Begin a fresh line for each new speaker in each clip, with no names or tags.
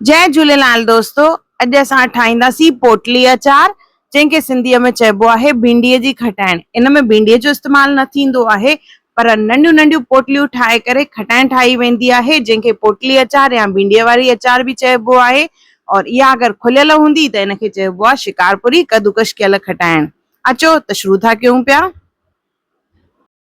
جئ جھوليلال دوستو اڄ اسان ٺاھينداسين پوٽلي اچار جنھن کي سنڌي ۾ چئبو آھي ڀينڊي جي کٽائڻ ان ۾ ڀينڊي جو استعمال نه ٿيندو آھي پر ننڍيون ننڍيون پوٽليون ٺاھي ڪري کٽائڻ ٺاھي ويندي آھي جنھن کي پوٽلي اچار يا ڀينڊي واري اچار به چئبو آھي اور اھا اگر کليل ھوندي ته ان کي چئبو آھي شڪارپوري ڪدوڪش ڪيل کٽائڻ اچو ته شروع ٿا ڪيون پيا.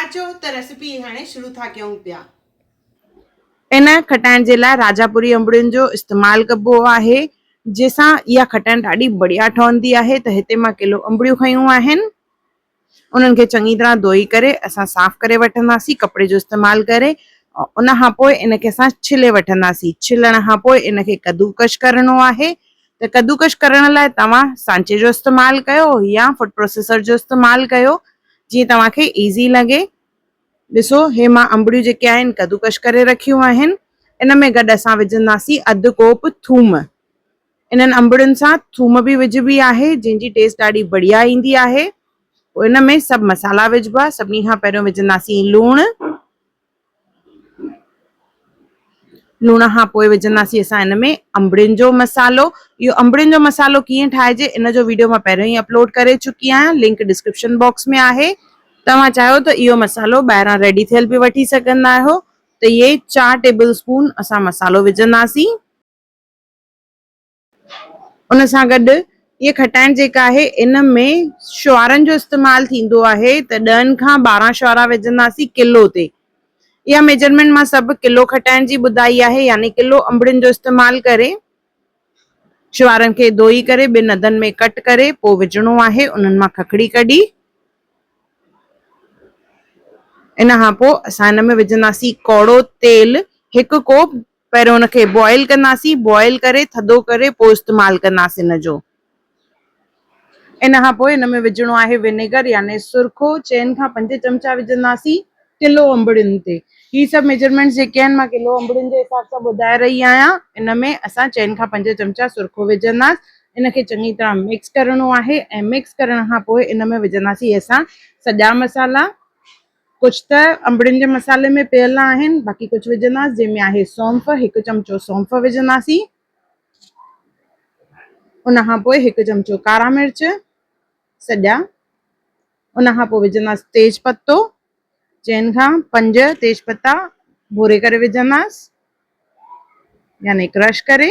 اچو ته ريسيپي هاڻي شروع ٿا ڪيون پيا. ان کٽائڻ جي لاء راجاپوري انبڙين جو استعمال ڪبو آهي جنهن سان اها کٽائڻ ڏاڍي بڙيا ٺهندي آهي ته هتي مان ڪلو انبڙيون کنيون آهن انهن کي چڱي طرح ڌوئي ڪري اسان صاف ڪري وٺنداسين ڪپڙي جو استعمال ڪري ان کان پوء ان کي اسان ڇلي وٺنداسين ڇلڻ کان پوء ان کي ڪدوڪش ڪرڻو آهي ته ڪدوڪش ڪرڻ لاء توهان سانچي جو استعمال ڪيو يا فوڊ پروسيسر جو استعمال ڪيو جيئن توهان کي ايزي لڳي. ڏسو هي مان انبڙيون جيڪي آهن ڪدوڪش ڪري رکيون آهن ان ۾ گڏ اسان وجهنداسين اڌ ڪوپ ٿوم انهن انبڙين سان ٿوم به وجهبي آهي جنهن جي ٽيسٽ ڏاڍي بڙيا ايندي آهي پوء ان ۾ سڀ مسالا وجهبا سڀني کان پهريون وجهنداسين لوڻ لوڻ کان پوء وجهنداسين اسان ان ۾ انبڙين جو مصالحو اهو انبڙين جو مصالحو ڪيئن ٺاهجي ان جو ويڊيو مان پهريون ئي اپلوڊ ڪري چڪي آهيان لنڪ ڊسڪرپشن باڪس ۾ آهي توهان چاهيو ته اهو مصالحو ٻاهران ريڊي ٿيل به وٺي سگهندا آهيو ته اهي چار ٽيبل اسپون اسان مصالحو وجهنداسين. ان سان گڏ اهي کٽائڻ جيڪا آهي ان ۾ شعارن جو استعمال ٿيندو آهي ته ڏهن کان ٻارهن شعرا وجهنداسين ڪلو تي. اها ميجرمينٽ مان سڀ ڪلو کٽائڻ جي ٻڌائي آهي يعني ڪلو انبڙين جو استعمال ڪري شعارن کي ڌوئي ڪري ٻن اڌن ۾ ڪٽ ڪري پوء وجهڻو آهي انهن مان ککڙي ڪڍي ان کان پوء اسان ان ۾ وجهنداسين ڪوڙو تيل هڪ ڪوپ پهريون ان کي بوائل ڪنداسين بوائل ڪري ٿڌو ڪري پوء استعمال ڪنداسين ان جو. ان کان پوء ان ۾ وجهڻو آهي ونيگر يعني سرخو چئن کان پنج چمچا وجهنداسين ڪلو انبڙين تي هي سڀ ميجرمينٽس جيڪي آهن مان ڪلو انبڙين جي حساب سان ٻڌائي رهي آهيان ان ۾ اسان چئن کان پنج چمچا سرخو وجهنداس ان کي چڱي طرح مڪس ڪرڻو آهي ۽ مڪس ڪرڻ کان پوء ان ۾ وجهنداسين اسان سڄا مصالحا ڪجهه ته انبڙين جي مصالحي ۾ پيل آهن باقي ڪجهه وجهنداس جنهن ۾ آهي سونف هڪ چمچو سونف وجهنداسين ان کان پوء هڪ چمچو ڪارا مرچ سڄا ان کان پوء وجهنداس تيز پتو چئن کان پنج تيز پتا ڀوري ڪري وجهنداس يعني ڪرش ڪري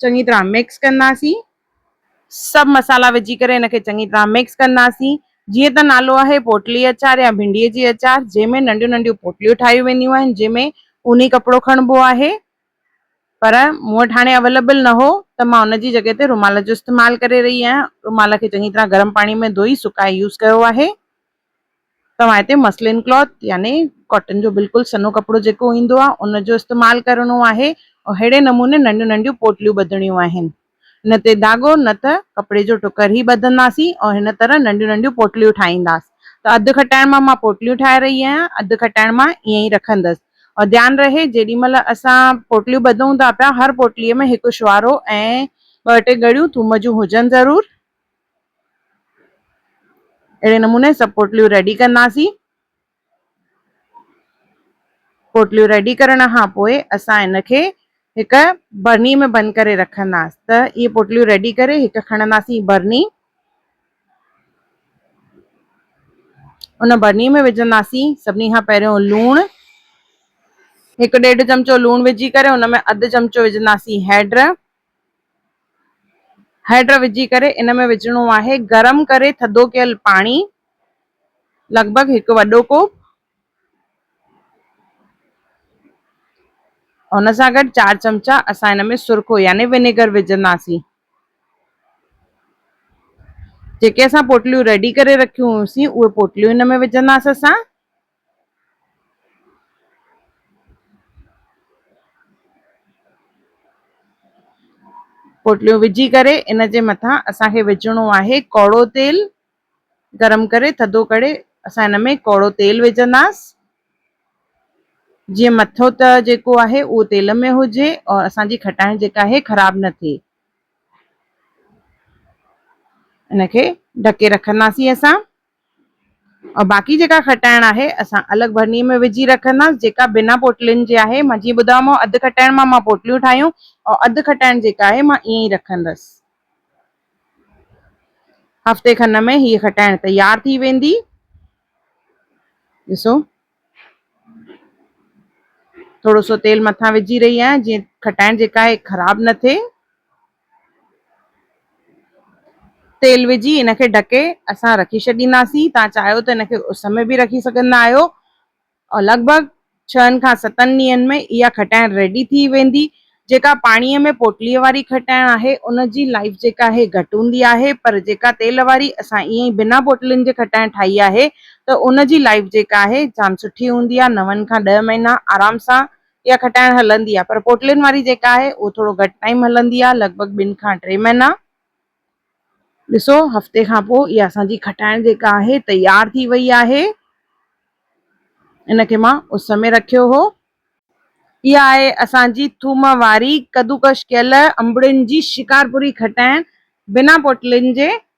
چڱي طرح مڪس ڪنداسين. سڀ مصالحا وجهي ڪري ان کي چڱي طرح مڪس ڪنداسين. جيئن ته نالو آهي پوٽلي اچار يا ڀنڊي جي اچار جنهن ۾ ننڍيون ننڍيون پوٽليون ٺاهيون وينديون آهن جنهن ۾ اوني ڪپڙو کڻبو آهي پر مون وٽ هاڻي اويليبل نه هو ته مان ان جي جڳهه تي رومال جو استعمال ڪري رهي آهيان رومال کي چڱي طرح گرم پاڻي ۾ ڌوئي سڪائي يوز ڪيو آهي. توهان هتي مسلين ڪلاٿ يعني ڪاٽن جو بلڪل سنهو ڪپڙو جيڪو ايندو آهي ان جو استعمال ڪرڻو آهي ۽ ههڙي نموني ننڍيون ننڍيون پوٽليون ٻڌڻيون آهن نه تي ڌاڳو نه ته ڪپڙي جو ٽڪر ئي ٻڌنداسين ۽ هن طرح ننڍيون ننڍيون پوٽليون ٺاهينداس ته اڌ کٽائڻ مان مان پوٽليون ٺاهي رهي آهيان اڌ کٽائڻ مان ائين ئي رکندس ۽ ڌيان رهي جيڏي مهل اسان پوٽليون ٻڌون ٿا پيا هر پوٽلي ۾ هڪ شوارو ۽ ٻه ٽي ڳڙيون ٿوم جون هجن ضرور. اهڙي نموني سڀ پوٽليون ريڊي ڪنداسين پوٽليون ريڊي ڪرڻ کان پوء اسان ان کي هڪ برني ۾ بند ڪري رکنداسين ته اهي پوٽليون ريڊي ڪري هڪ کڻنداسين برني ان برني ۾ وجهنداسين سڀني کان پهريون لوڻ هڪ ڏيڍ چمچو لوڻ وجهي ڪري ان ۾ اڌ چمچو وجهنداسين هيڊ هيڊ وجهي ڪري ان ۾ وجهڻو آهي گرم ڪري ٿڌو ڪيل پاڻي لڳ ڀڳ هڪ وڏو ڪوپ ان سان گڏ چار چمچا اسان ان ۾ سرخو يعني ونيگر وجهنداسين جيڪي اسان پوٽليون ريڊي ڪري رکيون هيون سين اهي پوٽليون ان ۾ وجهنداسين اسان پوٽليون وجهي ڪري ان جي مٿان اسان کي وجهڻو آهي ڪوڙو تيل گرم ڪري ٿڌو ڪري اسان ان ۾ ڪوڙو تيل وجهنداس جيئن مٿو ته جيڪو آهي اهو تيل ۾ هجي اور اسان جي کٽائڻ جيڪا آهي خراب نه ٿئي ان کي ڍڪي رکنداسين اسان ۽ باقي جيڪا کٽائڻ آهي اسان الڳ ڀرني ۾ وجهي رکنداس جيڪا بنا پوٽلين جي آهي مان جيئن ٻڌايومانو اڌ کٽائڻ مان مان پوٽليون ٺاهيون ۽ اڌ کٽائڻ جيڪا آهي مان ائين ئي رکندس هفتي کن ۾ هيء کٽائڻ تيار ٿي ويندي ڏسو ٿورو سو تيل مٿان وجهي رهي آهيان جيئن کٽائڻ جيڪا آهي خراب نه ٿئي تيل وجهي ان کي ڍڪي اسان رکي ڇڏينداسين، توهان چاهيو ته ان کي اس ۾ به رکي سگهندا آهيو ۽ لڳ ڀڳ ڇهن کان ستن ڏينهن ۾ اها کٽائڻ ريڊي ٿي ويندي، جيڪا پاڻيء ۾ پوٽليء واري کٽائڻ آهي ان جي لائيف جيڪا آهي گهٽ هوندي آهي پر جيڪا تيل واري اسان ائين ئي بنا پوٽلين جي کٽائڻ ٺاهي آهي ته ان جي لائيف جيڪا آهي جام سٺي هوندي آهي نون کان ڏهه مهينا آرام سان اها کٽائڻ هلندي آهي پر پوٽلين واري جيڪا آهي اهو ٿورو گهٽ ٽائيم هلندي آهي لڳ ڀڳ ٻن کان ٽي مهينا ڏسو هفتي کان پوء اها اسان جي کٽائڻ جيڪا آهي تيار ٿي وئي آهي ان کي مان اس ۾ رکيو هو. اها آهي اسان جي ٿوم واري ڪدوڪش ڪيل انبڙين جي شڪارپوري کٽائڻ بنا پوٽلين جي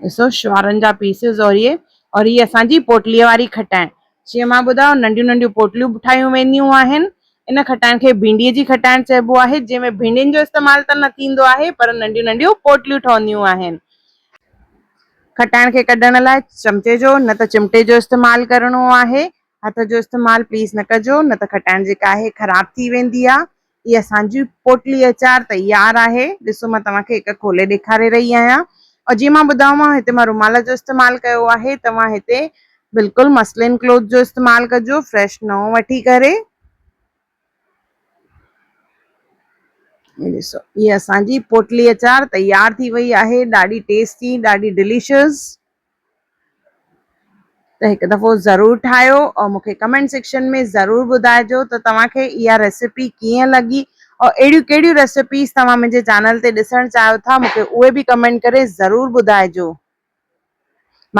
ڏسو شوارن جا پيسز اور هي اور هي اسان جي پوٽلي واري کٽائڻ جيئن مان ٻڌايو ننڍيون ننڍيون پوٽليون به ٺاهيون وينديون آهن ان کٽائڻ کي ڀينڊي جي کٽائڻ چئبو آهي جنهن ۾ ڀينڊين جو استعمال ته نه ٿيندو آهي پر ننڍيون ننڍيون پوٽليون ٺهنديون آهن کٽائڻ کي ڪڍڻ لاء چمچي جو نه ته چمٽي جو استعمال ڪرڻو آهي هٿ جو استعمال پليز نه ڪجو نه ته کٽائڻ جيڪا آهي خراب ٿي ويندي آهي هي اسان جي پوٽلي اچار تيار آهي ڏسو مان توهان کي هڪ کولي ڏيکاري رهي آهيان ۽ جيئن مان ٻڌايومانو هتي مان رومال جو استعمال ڪيو آهي توهان هتي بلڪل مسلين ڪلوٿ جو استعمال ڪجو فريش نئون وٺي ڪري هي ڏسو هي اسان جي پوٽلي اچار تيار ٿي وئي آهي ڏاڍي ٽيسٽي ڏاڍي ڊليشس ته هڪ دفعو ضرور ٺاهيو او مون کي ڪمينٽ سيڪشن ۾ ضرور ٻڌائجو ته توهان کي اها ريسيپي ڪيئن لڳي او اهڙيون ڪهڙيون ريسيپيز توهان منهنجي چينل تي ڏسڻ چاهيو ٿا مون کي اهي به ڪمينٽ ڪري ضرور ٻڌائجو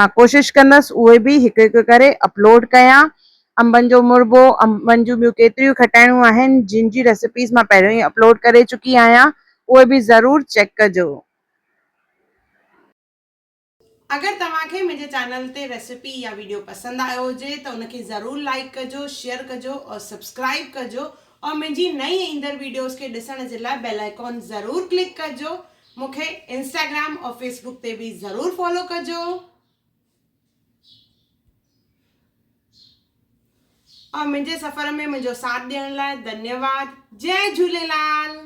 مان ڪوشش ڪندس اهي به هڪ هڪ ڪري اپلوڊ ڪيان انبن جو مربو انبن جون ٻيون ڪيتريون کٽائڻيون آهن جن جي ريسيپيز مان پهريون ئي اپلوڊ ڪري چڪي آهيان اهي به ضرور چيڪ ڪجو اگر توهان کي منهنجي چينل تي ريسيپي يا ويڊيو پسند آيو هجي ته ان کي ضرور لائيڪ ڪجو شيئر ڪجو اور سبسڪرائيب ڪجو اور منهنجي نئين ايندڙ ويڊيوز کي ڏسڻ جي لاء بيل آئيڪون ضرور ڪلڪ ڪجو مون کي انسٽاگرام اور فيس بوڪ تي به ضرور فالو ڪجو اور منهنجي سفر ۾ منهنجو ساٿ ڏيڻ لاء ڌنيواد جي جهوليلال